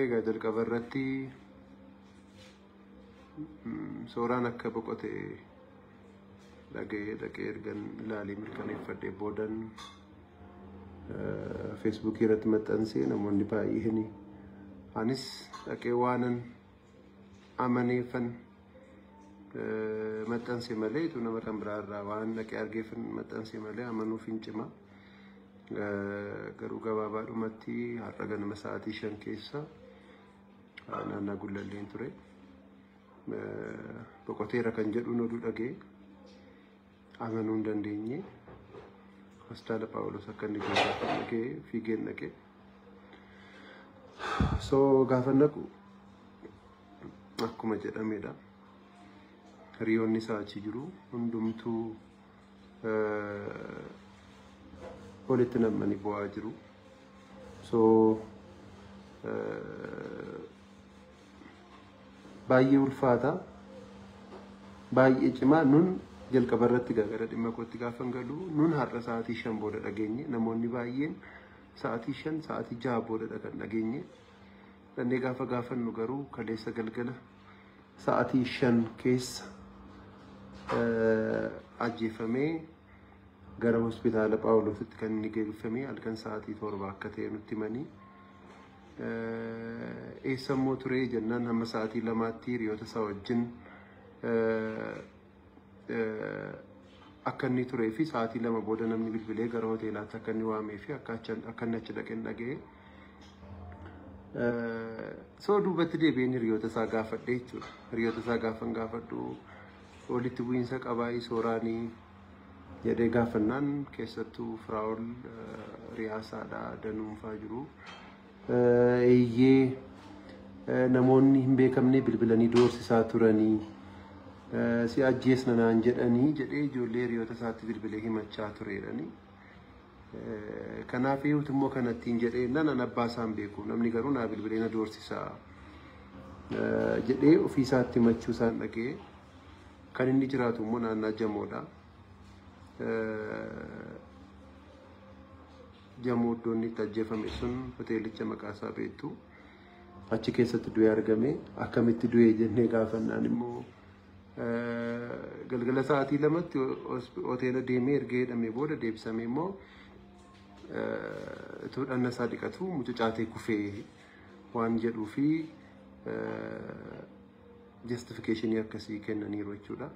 Egaa jalqaba irratti sooraan akka boqote dhaga'ee dhaqee ergan ilaalee mirkaneeffadhee boodan feesbuukii irratti maxxansee namoonni baay'een anis dhaqee waanan amaneefan maxxanse malee utuu nama kan biraa irraa waan dhaqee argeefan maxxanse malee amanuuf hin cima. Garuu gabaabaadhumatti har'a ganama sa'aatii shan keessa naannaa gullalleen ture. Boqoteera kan jedhuun oduu dhagee. Amanuu hin dandeenye. Hospitaala Phaawulos akka inni geessaa dhaqee fiigeen dhaqee. So gaafa naqu akkuma jedhamedha. Hiriyoonni isaa achi jiru hundumtuu walitti nam'anii bu'aa jiru. So baay'ee ulfaata baay'ee cimaa nun jalqaba irratti gara dhimma kootti gaafan galu nun har'a sa'aatii shan booda dhageenye namoonni baay'een sa'aatii shan sa'aatii jaha boodadha kan dhageenye dhannee gaafa gaafannu garuu kaleessa galgala sa'aatii shan keessa ajjeefamee gara hospitaala Phaawulositti kan inni geeffamee halkan sa'aatii torba akka ta'e nutti himanii. Eessa immoo turee jennaan hamma sa'aatii lamaatti hiriyoota isaa wajjin akka inni turee fi sa'aatii lama booda namni bilbilee gara hoteelaatti akka inni waamee fi akka inni achi dhaqeen dhaga'e. Soo duubatti deebi'een hiriyoota isaa gaafadhe jechuudha. Hiriyoota isaa gaafan gaafadhu walitti bu'iinsa qabaa sooraan jedhee gaafannaan keessattuu Firaa'ol riyaasaadha danuunfaa jiru. Eeyyee namoonni hin beekamne bilbilanii doorsisaa turanii si ajjeesna naan jedhanii jedhee ijoollee hiriyoota isaatti bilbilee himachaa tureedhani. Kanaaf eewutu immoo kanattiin jedhee nan abbaa isaan beeku namni garuu naa bilbilee na doorsisaa jedhee ofii isaatti himachuu isaan dhaga'ee. Kan inni jiraatu immoo naannaa Jamoodha. Jamoo iddoo inni itti ajjeefame sun hoteelicha maqaa isaa beektu. Achi keessatti du'ee argame. Akkamitti du'ee jennee gaafannaan immoo galgala sa'aatii lamatti hoteela deemee erga hidhamee booda deebisamee immoo utuu dhanna isaa dhiqatu mucucaatee kufee waan jedhuu fi Justification akkasii kennaniiru jechuudha.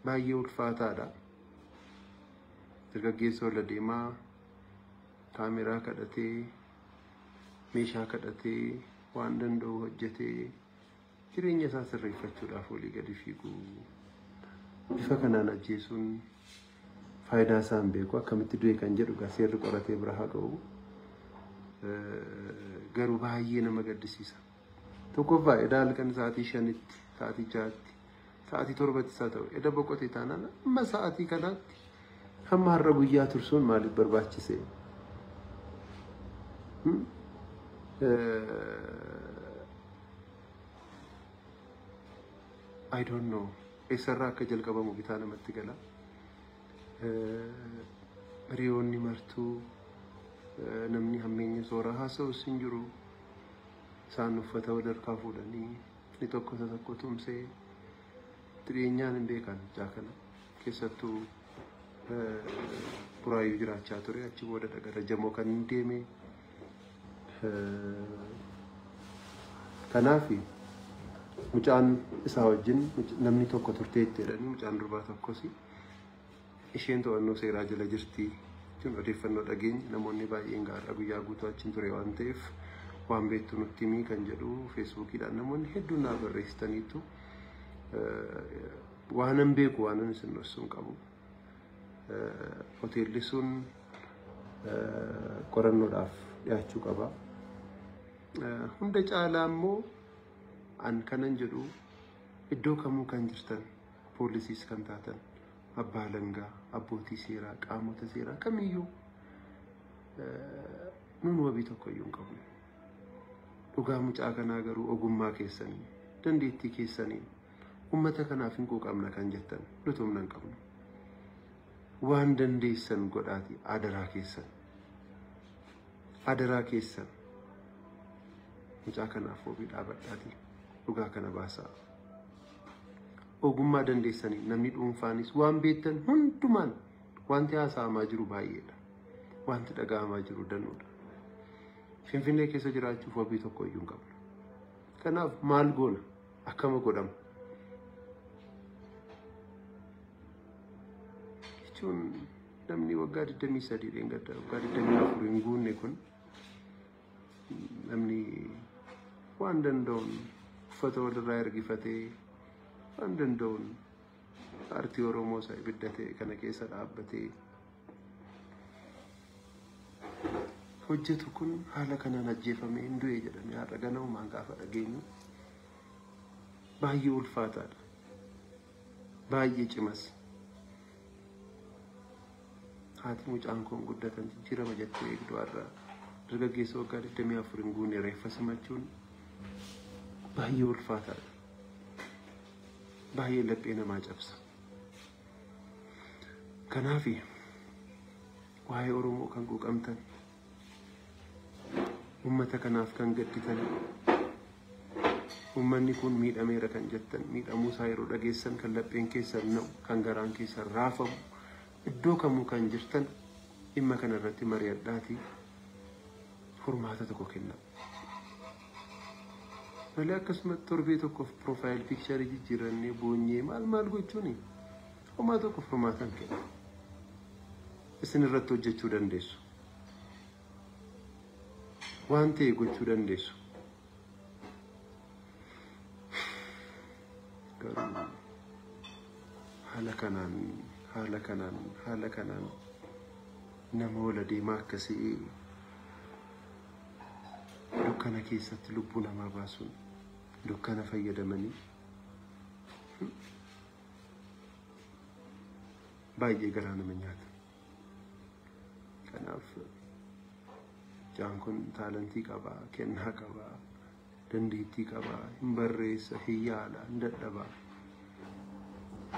Baay'ee ulfaataadha. Dargaggeessa ol adeemaa kaameraa kadhatee meeshaa kadhatee waan danda'u hojjetee jireenya isaa sirreeffachuudhaaf olii gadi fiigu. Bifa kanaan ajjeesuun Faayidaa isaa hin beeku akkamitti du'e kan jedhu gaa seerri qoratee bira haa ga'u. Garuu baay'ee nama gaddisiisa. Tokkoffaa edaa halkan sa'aatii shanitti, sa'aatii ja'atti, sa'aatii torbatti isaa ta'u eda boqote taanaan amma sa'aatii kanaatti hamma har'a guyyaa tursuun maaliif barbaachise? I don't know. eessarraa akka jalqabamu bitaa namatti gala. Hiriyoonni martuu namni hammeenya sooraa haasa'us hin jiru. Isaan uffata wal harkaa fuudhanii inni tokko isa tokko tumsee itti dhiyeenyaan hin beekan ijaa kana keessattuu buraayyuu jiraachaa ture achi boodadha gara jamoo kan hin deemee. Kanaaf mucaan isaa wajjin namni tokko turtee itti jedhanii mucaan durbaa tokkos isheen to'annoo seeraa jala jirti jechuun odeeffannoo dhageenye namoonni baay'een gaarra guyyaa guutuu achiin ture waan ta'eef waan beektu nutti himii kan jedhu feesbuukiidhaan namoonni hedduun naa barreessitaniitu waanan beeku waanan isin dhossuun qabu. Hoteelli sun qorannoodhaaf dhiyaachuu qaba. Hunda caalaa immoo an kanan jedhu iddoo kamuu kan jirtan poolisiis kan taatan abbaa alangaa abbootii seeraa qaamota seeraa kamiyyuu nuun wabii tokkoyyuu hin qabnu. Dhugaa mucaa kanaa garuu ogummaa keessanii dandeettii keessanii Ummata kanaaf hin quuqamna kan jettan nuti humna hin qabnu. Waan dandeessan godhaati adaraa keessan. Adaraa keessan. Mucaa kanaaf wabii dhaabadhaati dhugaa kana baasaa. Ogummaa dandeessanii namni dhuunfaanis waan beektan hundumaan wanti haasa'amaa jiru baay'eedha. Wanti dhaga'amaa jiru danuudha. Finfinnee keessa jiraachuuf wabii tokko iyyuu hin qabnu. Kanaaf maal goona? Akkama godhama. Jechuun namni waggaa 23 dheengadda waggaa 24 hin guunne kun namni waan danda'uun uffata walirraa ergifatee waan danda'uun Paartii Oromoo isa ibidda ta'e kana keessa dhaabbatee hojjetu kun haala kanaan ajjeefamee hin du'e jedhamee har'a ganamumaan gaafa dhageenyu baay'ee ulfaataadha. Baay'ee cimas. Haati mucaan kun guddatan jijjiirama jettee eegdu har'a dargaggeessa waggaa 24 hin guunne reeffa simachuun baay'ee ulfaataadha. baay'ee laphee namaa cabsa. Kanaaf waa'ee Oromoo kan quuqamtan uummata kanaaf kan gadditan uummanni kun miidhameera kan jettan miidhamuu isaa yeroo dhageessan kan lapheen keessan na'u kan garaan keessan raafamu iddoo kamuu kan jirtan dhimma kana irratti mari'adhaatii furmaata tokko kennaa. Malee akkasumatti torbee tokkoof piroofaayil piikcharii jijjiirannee boonyee maal maal gochuuni homaa tokko furmaatan kenna. Isin irratti hojjechuu dandeessu. Waan ta'e gochuu dandeessu. Garuu haala kanaan haala kanaan haala kanaan nama wal adeemaa akkasii dukkana keessatti lubbuu namaa baasuun dukkana fayyadamanii baay'ee garaa nama nyaata. Kanaaf jaan kun taalantii qaba, kennaa qaba, dandeettii qaba, hin barreessa, hin yaala, hin dadhaba.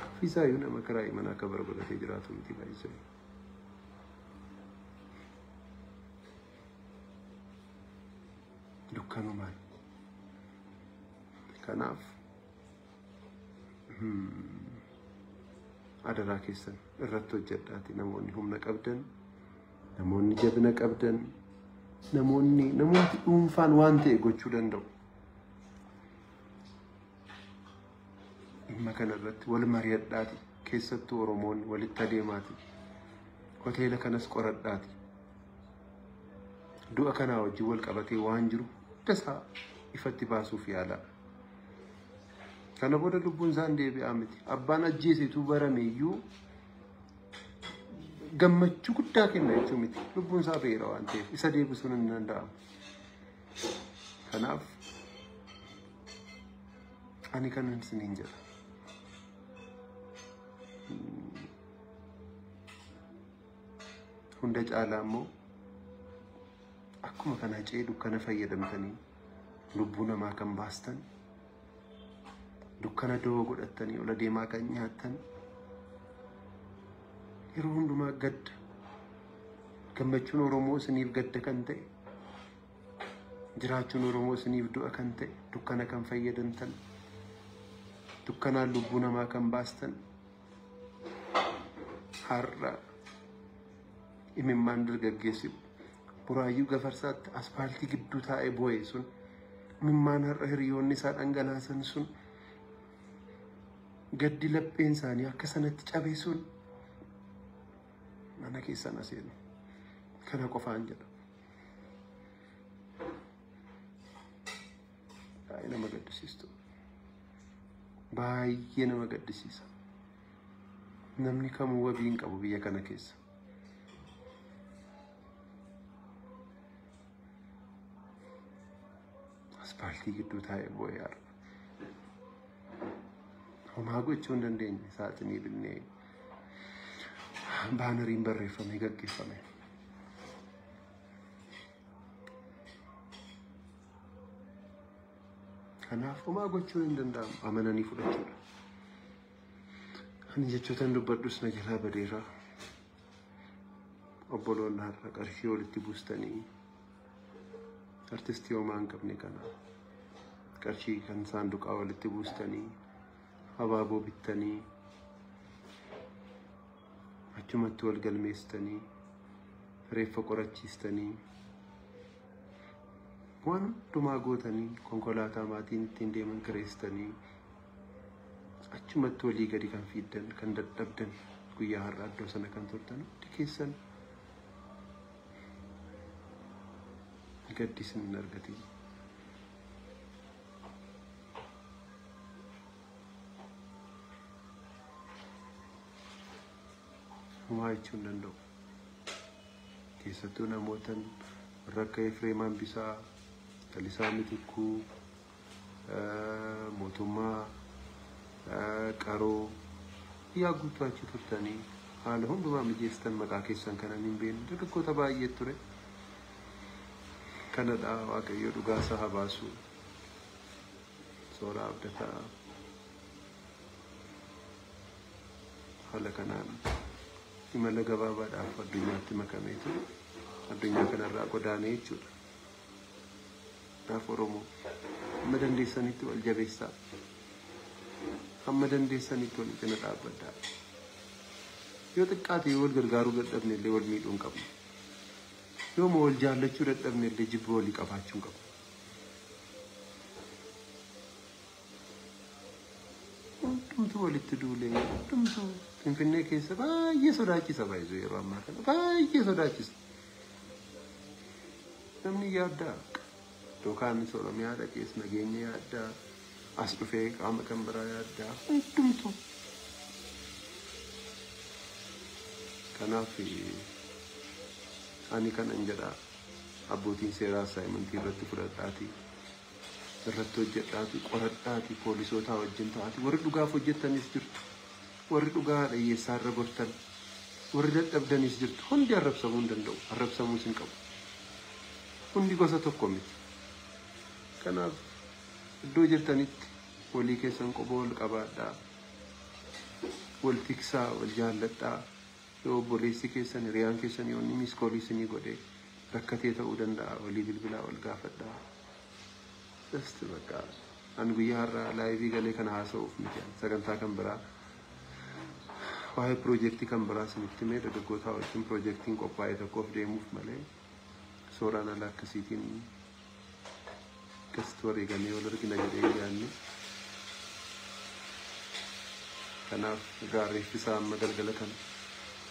Ofiisaayyuu nama karaa imanaa akka barbadatee jiraatu miti baay'isee. dukkanumaan kanaaf adaraa keessan irratti hojjedhaati namoonni humna qabdan namoonni jabina qabdan namoonni namooti dhuunfaan waan ta'e gochuu danda'u dhimma kana irratti wal mari'adhaati keessattuu oromoonni walitti adeemaati hoteela kanas qoradhaati Du'a kanaa wajjin wal qabatee waan jiru hundasaa ifatti baasuuf yaalaa. Kana booda lubbuun isaan deebi'aa miti. Abbaan ajjeesetu barame iyyuu gammachuu guddaa kenna jechuu miti. Lubbuun isaa ba'eera waan ta'eef isa deebisuun hin danda'amu. Kanaaf ani kanan isiniin jedha. Hunda caalaa immoo akkuma kana hacee dukkana fayyadamtanii lubbuu namaa kan baastan dukkana doo godhattanii ol adeemaa kan nyaattan yeroo hundumaa gadda gammachuun Oromoo isiniif gadda kan ta'e jiraachuun Oromoo isiniif du'a kan ta'e dukkana kan fayyadamtan dukkanaan lubbuu namaa kan baastan Har'a imimmaan dargaggeessi buraayyuu gafarsaatti aspaaltii gidduu taa'ee boo'e sun imimmaan har'a hiriyoonni isaa dhangalaasan sun gaddi lapheen isaanii akka sanatti cabe sun mana keessan aseenu kana qofaan jedha. Baay'ee nama gaddisiistu. Baay'ee nama gaddisiisa. Namni kamuu wabii hin qabu biyya kana keessa. Aspaaltii gidduu taa'ee boo'ee arga. Homaa gochuu hin dandeenye saaxinii binnee baanariin barreeffamee gaggeeffame. Kanaaf homaa gochuu hin danda'amu. Amananii fudhachuudha. Ani jechootan dubbadhus na jalaa badeera. Obboloonni har'a qarshii walitti buustanii artistii homaa hin qabne kana qarshii kan saanduqaa walitti buustanii abaaboo bittanii achumatti wal galmeessitanii reeffa qorachiistanii waan hundumaa gootanii konkolaataa maatiin ittiin deeman kireessitanii achumatti walii gadi kan fiiddan kan dadhabdan guyyaa har'a iddoo sana kan turtan hundi keessan gaddi isin hin argatin. Homaa jechuu hin danda'u. Keessattuu namootan warra akka Efreem Hambisaa, Lalisaa Mitikkuu, mootummaa qaroo yaa guutuu achi turtanii haala hundumaa mijeessitan maqaa keessan kanan hin beekne dargaggoota baay'ee ture. Kanadha Waaqayyo dhugaa isaa haa baasu. Sooraa abdataa. Haala kanaan imala gabaabaadhaaf addunyaatti makameetu addunyaa kanarraa godaanee jechuudha. Kanaaf Oromoo hamma dandeessanitti wal jabeessaa. Hamma dandeessanitti wal cina dhaabbadhaa. Yoo xiqqaate yoo wal gargaaruu dadhabne illee wal miidhuu hin qabnu. Yoo ma wal jaallachuu dadhabne illee jibba walii qabaachuu hin qabnu. Hundumtuu walitti duulee hundumtuu Finfinnee keessa baay'ee sodaachisa baay'ee yeroo ammaa kana baay'ee sodaachisa. Namni yaaddaa yookaan Oromiyaa dhaqees nageenya yaaddaa as dhufee qaama kan biraa yaaddaa hundumtuu. Kanaaf ani kanan jedhaa abbootiin seeraa saayimantii irratti fudhadhaatii. irratti hojjedhaati qoradhaati poolisootaa wajjin ta'aati warri dhugaaf hojjettanis jirtu warri dhugaa dhiyyeessaa irra gortan warri dadhabdanis jirtu hundi arrabsamuu hin danda'u arrabsamuus hin qabu hundi gosa tokko miti kanaaf iddoo jirtanitti walii keessan qoba wal qabaadhaa wal tiksaa wal jaalladhaa Yoo obboleessi keessan, hiriyaan keessan yoo inni miss call isinii godhe rakkatee ta'uu danda'a walii bilbilaa wal gaafadhaa. Just bakka an guyyaa har'aa live galee kana haasa'uuf miti an sagantaa kan biraa waa'ee piroojeektii kan biraa isinitti himee dargaggootaa wajjin piroojeektiin qophaa'e tokkoof deemuuf malee Sooraan ala akkasiitiin akkasitti wareegamee wal argina jedhee hin yaadne. Kanaaf egaa reeffi isaa amma galgala kana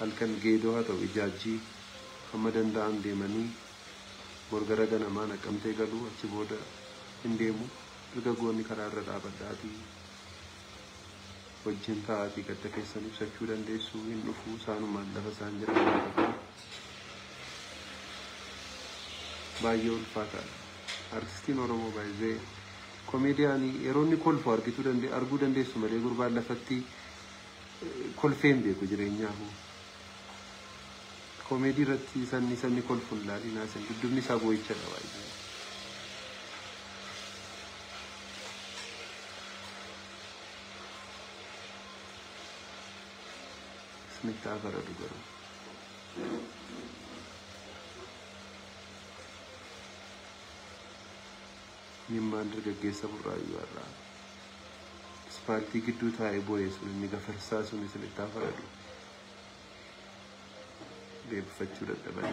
halkan geedoo haa ta'u ijaajjii hamma danda'an deemanii borgara ganamaa naqqamtee galuu achi booda hin deemu dargaggoonni karaa irra dhaabadhaatii wajjin taa'aatii gadda keessan ibsachuu dandeessu hin dhufu isaanumaan lafa isaan jedhan Baay'ee ulfaataadha. Artistiin Oromoo by the komeediyaanii yeroo inni kolfu argituu dande arguu dandeessu malee gurbaan lafatti eh, kolfee hin beeku jireenyaa hoo. Komeedii irratti sanni sanni kolfu hin laalinaa isin dudubni isaa boo'ichadha baay'ee. Isinitti haa faradu garuu. Imimmaan dargaggeessa burraayyuu har'aa. Ispaaltii gidduu taa'ee boo'ee sun inni gafarsaa sun isinitti haa faradu. Deebifachuu dadhaban.